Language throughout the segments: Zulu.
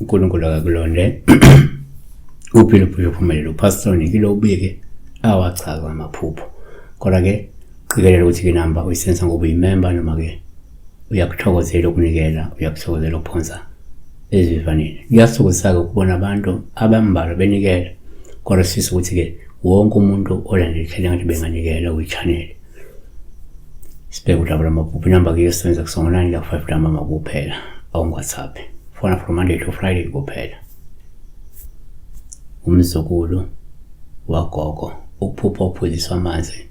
uNkulunkulu akakulonde uphile uphile uphumelele upastor nikile ubike awachaza amaphupho kodwa ke qikelela ukuthi ke namba uyisensa ngoba uyimemba noma ke uyakuthokozela ukunikela uyakuthokozela ukuphonsa ezivivaneni kuyasukisa-ke ukubona abantu abambalwa benikela kodwa sifisa ukuthi-ke wonke umuntu olandela ihlele ngathi benganikela kwi-chanele sibheke udaba lwamaphupho inamba ke yosebenza kusongonani ka-five lamama kuphela awungwhatsapp fona from monday to friday kuphela umzukulu wagogo ukuphupha uphuziswa amanzi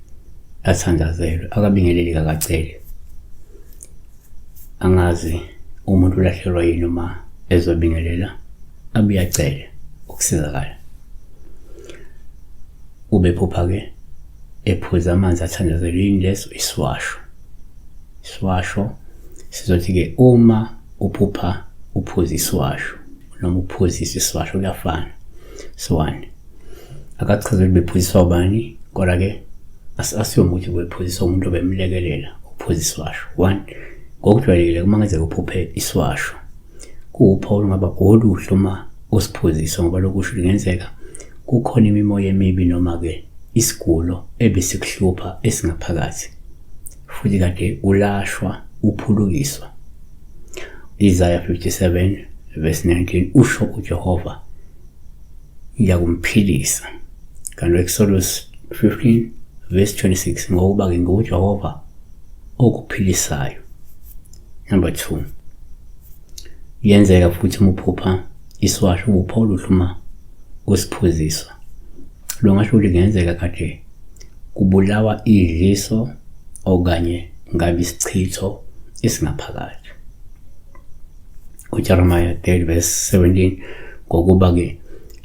athandazelwe akabingeleli kakacele angazi umuntu ulahlekelwa yini uma ezobingelela abuye acele ukusizakala ubephupha-ke ephuza amanzi athandazelwe yini leso isiwasho isiwasho sizothi-ke uma uphupha uphuza isiwasho noma ukuphuzisa isiwasho kuyafana so one akachaze ukuthi bephuziswa ubani kodwa ke asiyoma ukuthi bephuziswa umuntu obemlekelela ukuphuza isiwasho one ngokujwayelekile uma ngenzeka uphuphe isiwasho kuwupha olungaba oluhle uma usiphuzisa ngoba lokusho kungenzeka kukhona imimoya emibi noma-ke isigulo ebesikuhlupha esingaphakathi futhi kade ulashwa uphulukiswa. Isaya 57 verse 19 usho uJehova ngiyakumphilisa. Kanti Exodus 15 verse 26 ngokuba ke nguJehova okuphilisayo. Number 2 Yenzeka futhi umuphupha isiwasho ubupho oluhluma usiphuziswa. Lo ngasho ukuthi kungenzeka kade Kubulawa idliso okanye ngabe isichitho esingaphakathi. UJeremiya 30 verse 17 ngokuba-ke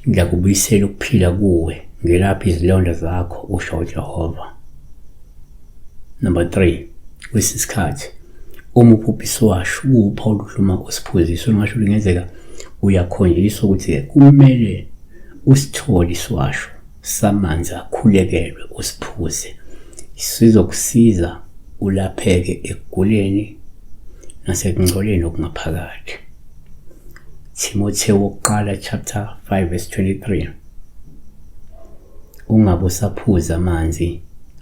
ngiyakubuyisela ukuphila kuwe ngelapha izilonda zakho usho uJehova. Number 3 kwesinye isikhathi uma ubhubhisi washo ukupha oluhluma usiphuzisa ungasho ukuthi kungenzeka uyakhonjiswa ukuthi-ke kumele usithole isiwasho samanzi akhulekelwe usiphuze sizokusiza ulapheke ekuguleni nasekungcoleni okungaphakathi Timotheo wokuqala chapter 5 verse 23 Ungabe usaphuza amanzi